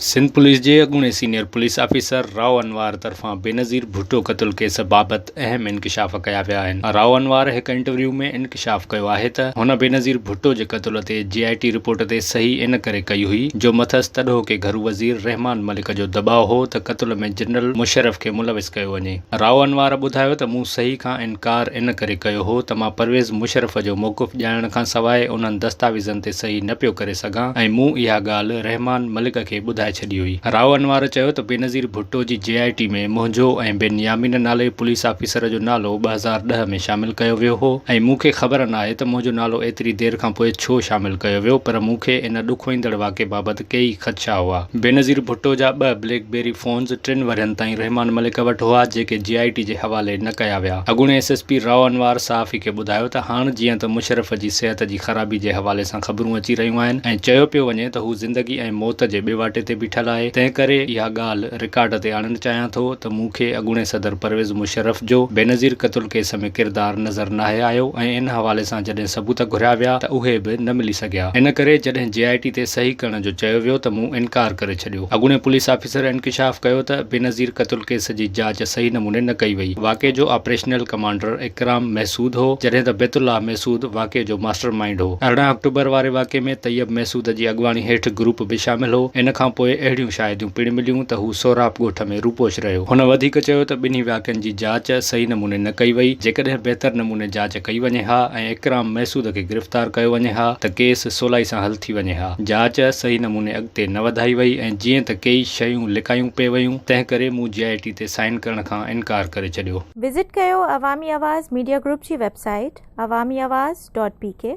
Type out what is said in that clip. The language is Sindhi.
سنڌ پوليس جي اڳوڻي senior police officer Rao Anwar طرفان بينظير ڀٽو قتل ڪيس بابت اهم انڪشاف ڪيا ويا آهن. رائو انوار هڪ انٽرويو ۾ انڪشاف ڪيو آهي ته هن بينظير ڀٽو جي قتل تي جي آء ٽي رپورٽ تي صحيح ان ڪري ڪئي هئي جو مٿس تڏهوڪي گهرو وزير رحمان ملڪ جو دٻاء هو ته قتل ۾ جنرل مشرف کي ملوث ڪيو وڃي. رائو انوار ٻڌايو ته مون صحيح کان انڪار ان ڪري ڪيو هو ته مان پرويز مشرف جو موقف ڄاڻڻ کان سواء انهن دستاويزن تي صحيح نه پيو ڪري سگهان ۽ مون اها ڳالهه رحمان ملڪ کي ٻڌائي ڇڏي هئي. راء انوار چيو ته بينظير ڀٽو جي جي آء ٽي ۾ منهنجو ۽ بن يامين نالي پوليس آفيسر جو نالو ٻه هزار ڏهه ۾ شامل ڪيو ويو هو ۽ مون کي خبر ناهي ته منهنجو نالو ايتري دير کانپوء ڇو شامل ڪيو ويو پر مون کي ان ڏکوئيندڙ واقعي بابت ڪيئي خدشا هئا. بينظير ڀٽو جا ٻه بليڪ بيري فونز ٽن ورهين تائين رحمان ملڪ وٽ هئا، جيڪي جي آء ٽي جي حوالي نه ڪيا ويا. اڳوڻي S S P Rao Anwar صحافي کي ٻڌايو ته هاڻ جيئن ته مشرف جي صحت جي خرابي جي حوالي سان خبرون اچي رهيون آهن ۽ چيو پيو وڃي ته هو زندگي ۽ موت جي ٻيواٽي تي بيٺل آهي، تنهن ڪري اها ڳالهه رڪارڊ تي آڻڻ چاهيان ٿو ته مون کي اڳوڻي صدر پرويز مشرف جو بينظير قتل ڪيس ۾ ڪردار نظر ناهي آيو ۽ ان حوالي سان جڏهن ثبوت گهريا ويا ته اهي به نه ملي سگهيا. سگهيا، ان ڪري جڏهن جي آء ٽي تي صحيح ڪرڻ جو چيو ويو ته مون انڪار ڪري ڇڏيو. اڳوڻي پوليس آفيسر انڪشاف ڪيو ته بينظير قتل ڪيس جي جاچ صحيح نموني نه ڪئي وئي، واقعي جو آپريشنل ڪمانڊر اڪرام محسود هو، جڏهن ته بيت الله محسود واقعي جو ماسٽر مائينڊ هو. ارڙهن آڪٽوبر واري واقعي ۾ طيب محسود جي اڳواڻي هيٺ گروپ به شامل هو، ان کان پوء اهڙيون شاهديون پڻ مليون ته هو سهراب ڳوٺ ۾ روپوش رهيو. هن وڌيڪ چيو ته ٻنهي واقعن جي جاچ صحيح نموني نه ڪئي وئي، جيڪڏهن بهتر نموني جاچ. ڪئي وڃي ها ۽ اڪرام محسود کي گرفتار ڪيو وڃي ها ته ڪيس سولائي سان حل ٿي وڃي ها. جاچ صحيح نموني اڳتي نه وڌائي وئي ۽ جيئن ته ڪيئي شيون لڪايون پئي ويون تنهن ڪري مون جي آء ٽي تي سائن ڪرڻ کان انڪار ڪري ڇڏيو. وزٽ ڪيو عوامي آواز ميڊيا گروپ جي website Awami Awaz dot P ڪي.